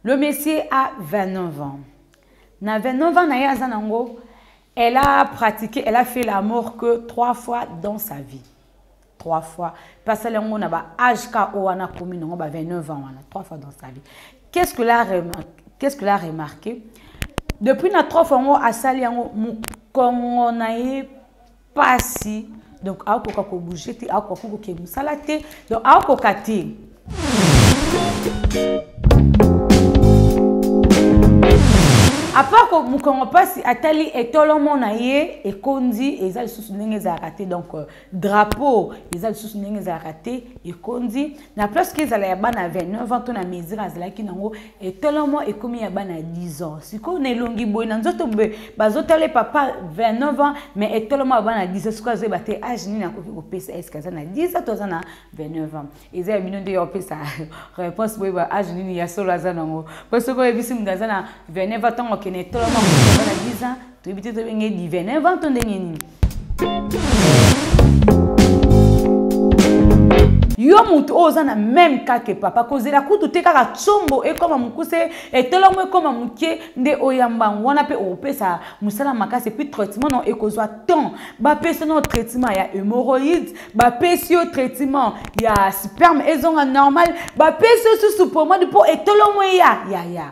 Le monsieur a 29 ans. Na 29 ans na ye aza nango, elle a pratiqué, elle a fait la mort que trois fois dans sa vie. Trois fois. Passer yango na ba âge ka owana komi nango ba 29 ans wana, trois fois dans sa vie. Qu'est-ce que la remarque? Qu'est-ce que la remarqué? Depuis na trois fois yango asali yango mukongo na ye pasi donc akoka ko bouger te akoka ko kokende mosala te donc akoka te apart ko mokongo mpasi atali etolomo na ye ekondi eza lisusu ndenge ezalaka te donc euh, drapeau eza lisusu ndenge ezalaka te ekondi na place ke ezala ya bana ya 29 ans to na mesure azalaki nango etalamo ekomi ya bana ya 10 ans sikoyo na elongi boye na nzoto boye bazotala papa 29 ans mais etalamo ya bana ya 10 ans sikoyo azoyeba te age nini akoki kopesa eske aza na 10 ans to aza na 29 ans eza ya bino nde ya kopesa réponse boyeba age nini ya solo aza nango mpo soki oyebisi moto aza na 29 ans ntango akende etalamo ya bana 10 ans toyebi te tobengi ye divin invente to ndenge nini yo moto oyo oza na meme kake papa kozela kutu te kaka tsombo ekoma mokuse etolongo ekoma moke nde oyamba yango wana mpe okopesa mosala makasi epuis traitement no ekozwa temps bapesi no traitement ya hémoroïde bapesi yo traitement ya sperme ezonga normal bapesi yo susu pomade mpo etolongo eya yaya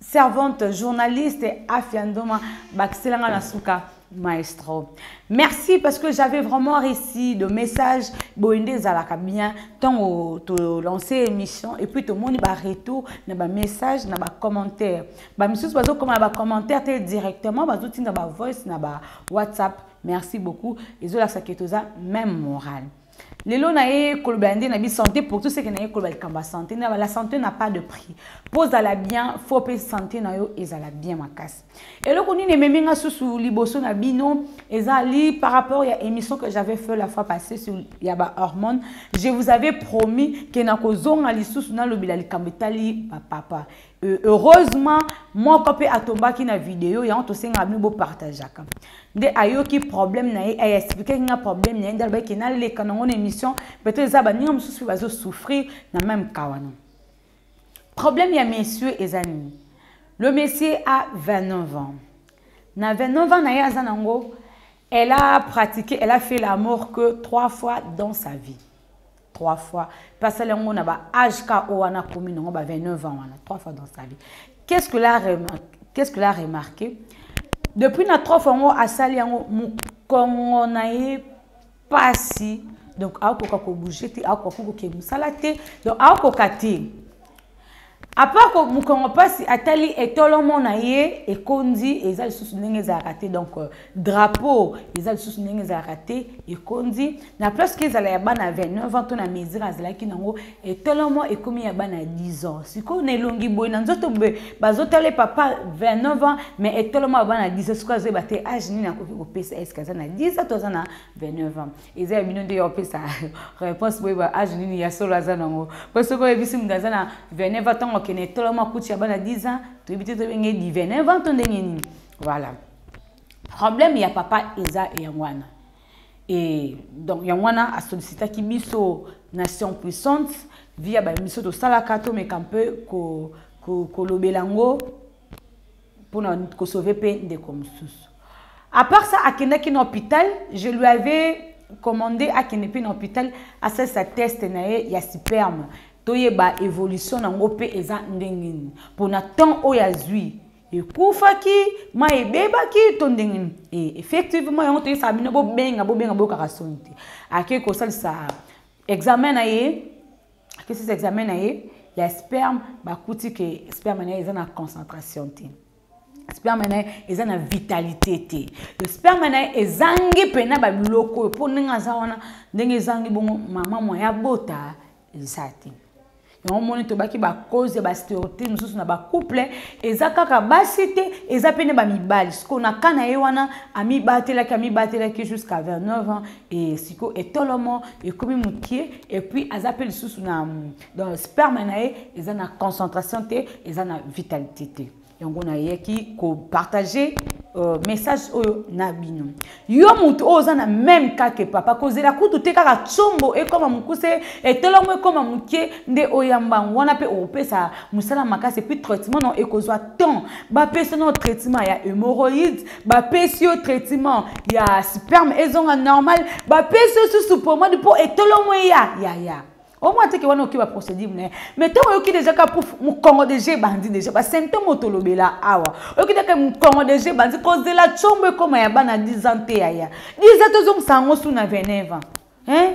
servante journaliste afia ndoma bakisela nga na suka maestro merci parce que j'avais vraiment réussi de message boye nde ezalaka bien ntango tolance émission et puis tomoni baretour na bamessage na bacommentaire bamisusu bazokoma na bacommentaire te directement bazotinda bavoice na bawhatsapp merci beaucoup ezolakisa ke toza même morale lelo na ye kolobela nde na bi santé pour tout ce que na ye kolobela likambo ya santé na la santé n'a pas de prix mpo ozala bien fo mpe santé na yo ezala bien makasi eloko nini ememi nga susu liboso na bino ezali par rapport ya émission que j'avais fait la fois passée sur ya ba hormone je vous avais promis ke nakozonga lisusu nalobela likambo etali bapapa Euh, heureusement moko mpe atombaki na video yango tosengaka bino bopartageaka nde ayoki problème na ye aexplikaki nga problème na ye nde alobaki naleka nango na émission peut-être eza baninga mosusu mpe bazosouffrir na même ka wana problème ya monsieur eza nini le monsieur a 29 ans na 29 ans na ye aza nango elle a pratiqué elle a fait l'amour que trois fois dans sa vie trois fois mpe asali yango na ba age ka oyo wana akomi nango ba 29 ans wana trois fois dans sa vie qu'est ce que la qu'est ce que la remarqué depuis na trois fois yango asali yango mokongo na ye mpasi donc akokoka kobouge te akokoka kokende mosala te donc akokoka te apart ko mukongo pasi atali etolomo na ye ekondi eza lisusu ndenge ezalaka te donc euh, drapeau eza lisusu ndenge ezalaka te ekondi na place ke ezala ya bana 29 ans to na mesure azalaki nango etolomo ekomi ya bana 10 ans sikoyo na elongi boye na nzoto boye bazotala papa 29 ans mais etolomo ya bana 10 ans sikoyo azoyeba te age nini akoki kopesa eske aza na 10 ans to aza na 29 ans eza ya bino nde ya opesa réponse boyeba age ah, nini ya solo aza nango mpo soki oyebisi moto aza na 29 ans ntango akende etolo makuti ya bana 10 ans toyebi te tobenge di 29 ans to ndenge nini voilà problème ya papa eza yango wana e donc yango wana asollicitaki biso nation puissante via babiso tosalaka tomeka mpe kolobela ko, ko yango Pour ko sauver pe ndeko mususu. À part ça, akendaki na hôpital, je lui avais commandé akende pe na hôpital, asalisa test na ye ya sperme. Toyeba évolution nango pe eza ndenge nini. Pona temps oyo azui ekufaki mai ebebaki to ndenge nini e, effectivement yango toyesaka bino bobenga bobenga boyokaka soni te akei kosalisa examen na ye akesisi examen na ye ya sperme bakuti ke sperme na ye eza na concentration te sperme na ye eza na vitalité te le sperme na ye ezangi mpena babiloko oyo mpo ndenge aza wana ndenge ezangi bongo mama mwa ya bota eza te yango moni tobaki bacause ya bastereotype mosusu na bacouple eza kaka basi te eza mpe nde bamibali sikoyo na ka na ye wana amibatelaki amibatelaki jusqu'à 29 ans et siko etolomo ekomi mokie et puis aza mpe lisusu na donc sperme na ye eza na concentration te eza na vitalité te yango nayaki kopartage euh, message oyo na bino yo moto oyo oza na meme kake papa kozela kutu te kaka tsombo ekoma mokuse etolomo ekoma mokie nde oyamba yango wana mpe okopesa mosala makasi epuis traitement no ekozwa temps bapesa no traitement ya hémoroïde bapesi yo traitement ya sperme ezonga normal bapesi yo susu pomade mpo etolomo eya yaya omwa teke wana oki baprocédure na ye mais ntango oyoki deja ka pouf mokongo deja ebandi deja basymptome otolobela awa oyoki deke mokongo deja ebandi kozela combo ekoma ya bana 10 ans te yaya 10 ans tozongisa yango su na 29 ans hein?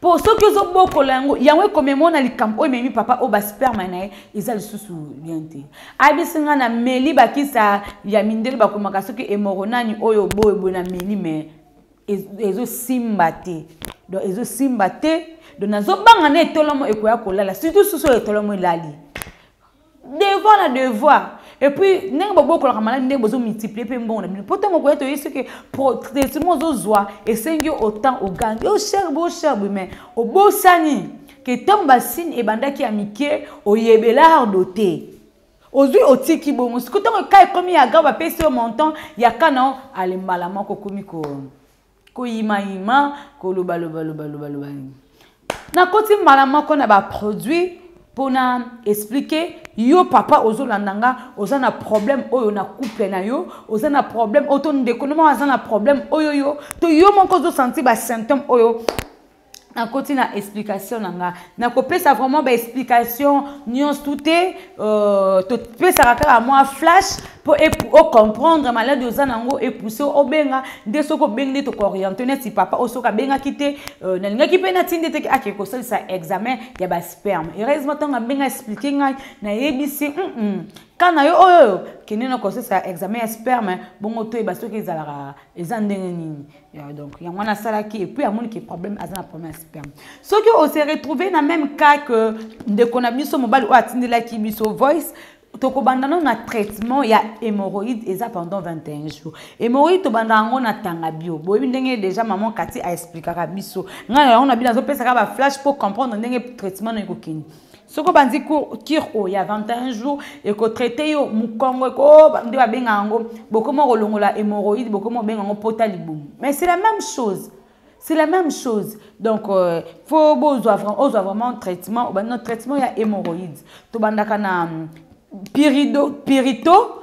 mpo soki ozobokola yango yango ekomema na likambo oyo ememi papa oyo basperme na ye eza lisusu bien te ayebisi ngai na meli bakisa ya mindele bakomaka soki emoro nani oyo boye boye na meli me ezosimba te donc ezosimba te donc nazobanga na etolomo ekoya kolala surtout susu oyo etolomo elali devoir na devoir epuis ndenge bobokolaka maladi ndenge bozomultiplie mpe mbongo na bino mpo ntango okoya toyebi soki traitement ozozwa esengi yo otemp ogangi yo cher bo cher bo mais obosani ke ntango basine ebandaki ya mike oyebelardo te ozwi otiki bongo siko ntango ka ekomi ya ga bapesi yo montant ya kana ale mbala moko okomi ko koyimayima kolobalobalobalobaloba nakoti mbala moko na baproduit mpo na explike yo papa ozolanda nga oza na problème oyo na couple na yo oza na problème oyo to ndeko no moko aza na problème oyo yo to yo moko ozosanti basymptôme oyo nakoti na explication na nga nakopesa vraiment baexplication nyonso te euh, topesaka kaka mwa flash mpo ocomprendre maladi oza na yango epousse obenga nde soki obengi nde tokooriente neti papa oyo soki abengaki te euh, nalingaki mpe natii nde teke akei kosalisa examen ya basperme heureusement ntango abenga explike ngai nayebisi mm -mm. ka na yo oyo kende na kosalisa examen ya sperme bongo toyeba soki ezalaka eza ndenge nini Ya, donc yango wana asalaki epuis amoni ke problème aza na problème ya sperme soki ose retrouve na même cas que ndeko na biso mobali oyo atindelaki biso voice tokobanda nano na traitement ya hémorroïde eza pendant 21 jours hémorroïde tobanda yango na tanga bio boyebi ndenge déjà maman kati aexplikaka biso ngai na yango na bino azopesaka baflash mpo comprendre ndenge traitement no ekokende soki obandi kire oyo ya 21 jour ekotraite yo mokongo nde babenga yango bokomi okolongola hémoroïde bokomi obenga yango pota libumu mais c'est la même chose c'est la même chose donc euh, fo bozwa ozwa vraiment traitement obandi na traitement ya hémoroïde tobandaka na hum, pirito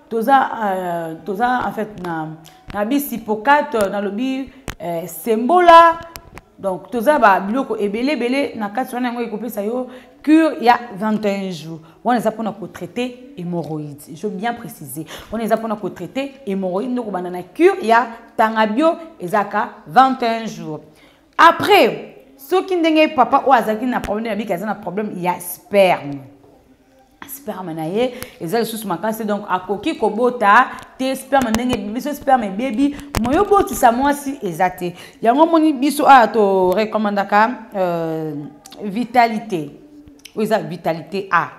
toza euh, toza en fait na na bisipokate euh, nalobi euh, sembola donc toza babiloko ebele ebele na kati wana yango ekopesa yo cure ya 21 jours wana eza mpona kotraite hémorroïde je bien précise wana eza mpona kotraite hémorroïde nde kobanda na cure ya tanga bio ezaka 21 jours après soki ndenge papa oyo azalaki na problème abiki aza na problème ya sperme sperme na ye eza lisusu makasi donc akoki kobota te sperme ndenge biso sperme ebebi moyo obotisa mwasi eza te yango omoni biso awa torecommandaka euh, vitalité oyo eza vitalité a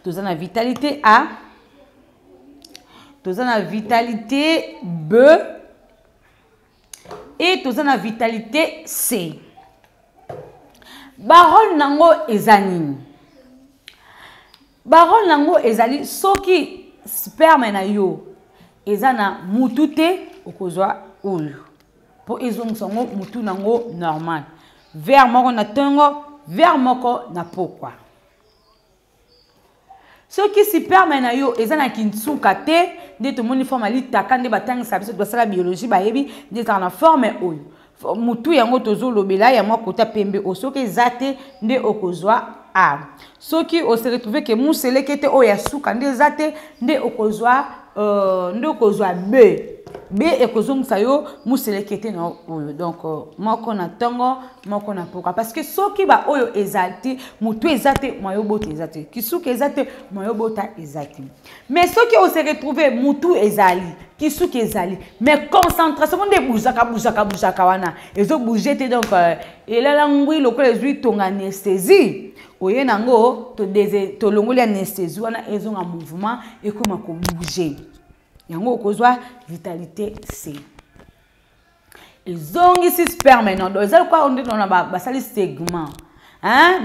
toza na vitalité a toza na vitalité b et toza na vitalite c barole nango eza nini barole nango ezali soki sperme na yo eza na mutu te okozwa oyo mpo ezongisa yango mutu nango normal vere moko na ntongo vere moko na pokwa soki siperme na yo eza na kinsuka te nde tomoni forme alitaka nde batangisa biso basala biologie bayebi nde ezalaka na forme oyo motu yango tozolobela ya mwa kota pembe oyo soki eza te nde okozwa a soki oseretrouve ke museleke te oyo ya suka nde eza te nde okozwa Euh, nde okozwa be be ekozongisa yo moselekete na oyo donc euh, moko na ntongo moko na mpoka parce que soki baoyo eza te motu eza te moyo bota eza te kisuki eza te moyo bota eza te mais soki ose retrouve motu ezali kisuki ezali mais concentration ngo nde ebuzaka buzaka buzaka wana ezobouge te donc euh, elala ngwi lokola ezwi tonga anesthésie oye na yango tolongoli anesthésie wana ezonga mouvement ekoma kobouge yango okozwa vitalite c ezongisi sperme nodo eza lokola nde nona basali segment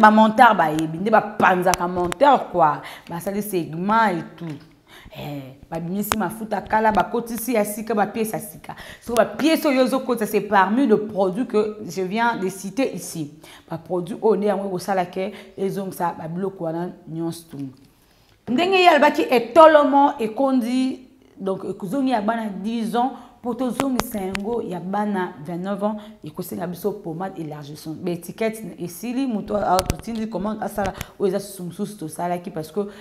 bamonteur bayebi nde bapanzaka monteur kua basali segment etout Eh, babimisi mafuta kala bakotisi ya sika bapiese ya sika soko bapiese oyo ezokotisa c'est parmi le produit que je viens de citer ici baproduit oyo nde yango ekosala ke ezongisa babiloko wana nyonso tu ndenge ye alobaki etolomo ekondi donc ekozongi ya bana 10 ans mpo tozongisa yango ya bana 29 ans ekosenga biso pomade élargissant baétiquette esili moto atotindi commande asala oyo eza susu mosusu tosalaki parce que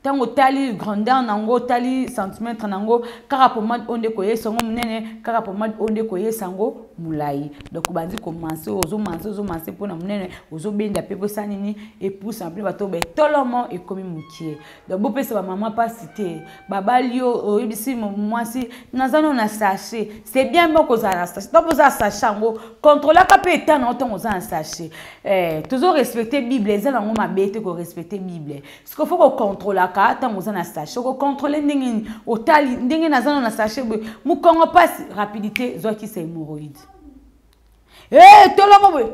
ntango otali grandeur na yango otali centimetre na yango kaka pomade oyo nde koyesa yango monene kaka pomade oyo nde koyesa yango molai donc obandi komanse ozomanse ozomanse mpo na monene ozobenda mpe bosa nini epusa mpe bato betolomo ekomi mokie donc bopesa bamama mpasi te babali yo oyebisi mwasi naza no na sache c'est bien mpo kozala na sache donc oza sache yango controlaka mpe etat na yo ntango oza na sache eh, tozorespecte bible eza na yango mabe te korespecte bible siko fo kocontrolaka ntango oza na sachet okocontrole ndenge nini otali ndenge naza no na sachet boye mokongo mpasi rapidité zwakisa hémoroïde e eh, tolongo boye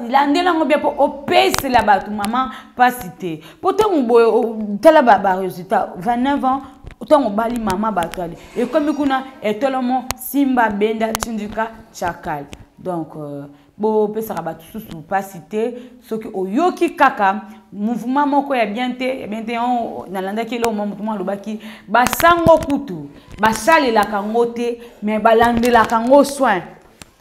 landela yango bien mpo opesela bato mama mpasi te mpo ntango boye tala baresultat 29 ans ntango obali mama bato yali ekomi kuna etolomo simba benda tindika chakal donc euh, bopesaka bato susu mpasi te soki oyoki kaka mouvement moko ya bien te ya bien te oh, nalandaki eloko mwa moto mwa alobaki basango kutu basalelaka yango te me balandelaka yango soin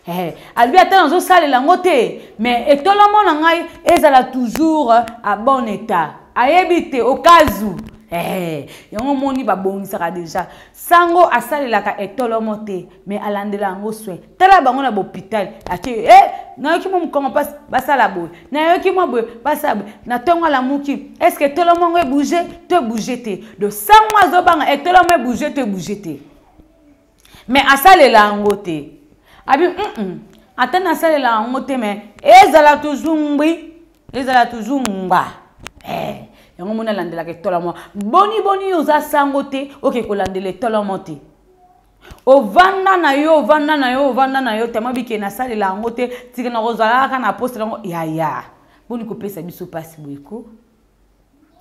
eh, alobi ata nazosalela yango te me etolamo na ngai ezala toujours a bon état ayebi te okazu eh, yango omoni babongisaka deja sango asalelaka etolomo te mais alandela yango soin tala bango na bopital atie e eh, nayoki mwa mokongo mpasi basala boye nayoki mwa boye basala boye na ntongo alamuki estce tolomo yango ebouge to ebouge te do sango azobanga etolomo eh, ebouge to ebouge te mais asalela yango te abi mm ata nasalela yango te mais ezala toujours ngbi ezala toujours ngba eh. yango mona alandelaka etolomo boni boni oza sango te oke kolandela etolomo te ovanda na yo ovanda na yo ovanda na yo tama bike nasalela yango te tika na kozala kaka na poste yango yaya boni kopesa biso mpasi boyeko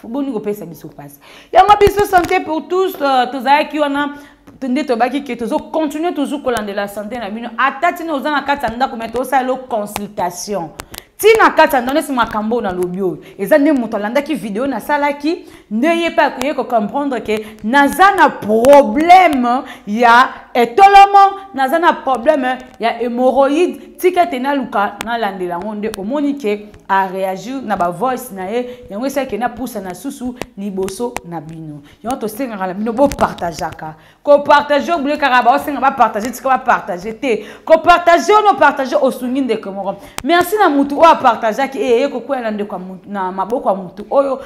boni kopesa biso mpasi yango biso santé pour tous euh, tozalaki wana nde tobaki ke tozocontinue toujours kolandela sante na bino ata ntina oza na kati ya ndako me tosalela consultation ntina kati ya ndonesi makambo oyo nalobi oyo eza nde moto alandaki video nasalaki nde ye mpe akoye kocomprendre ke naza na probleme ya etolomo naza na probleme ya hémoroïde tika ete naluka nalandela yango nde omoni ke areagir na bavoice na ye yango esalaki napusa na susu liboso na bino yango tosengaka na bino bopartageaka kopartage obule kaka baosenga bapartage tika bapartage te kopartage ono partage osungi ndeko moko merci na motu oyo apartageaki eye ye kokwela na ndeko na maboko ya motu oyo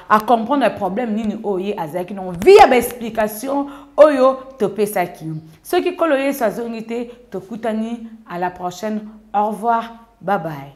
acomprendre problème nini oyo ye azalaki nango via baexplication oyo topesaki soki nkolo yesu azongi te tokutani à la prochaine au revoir babaye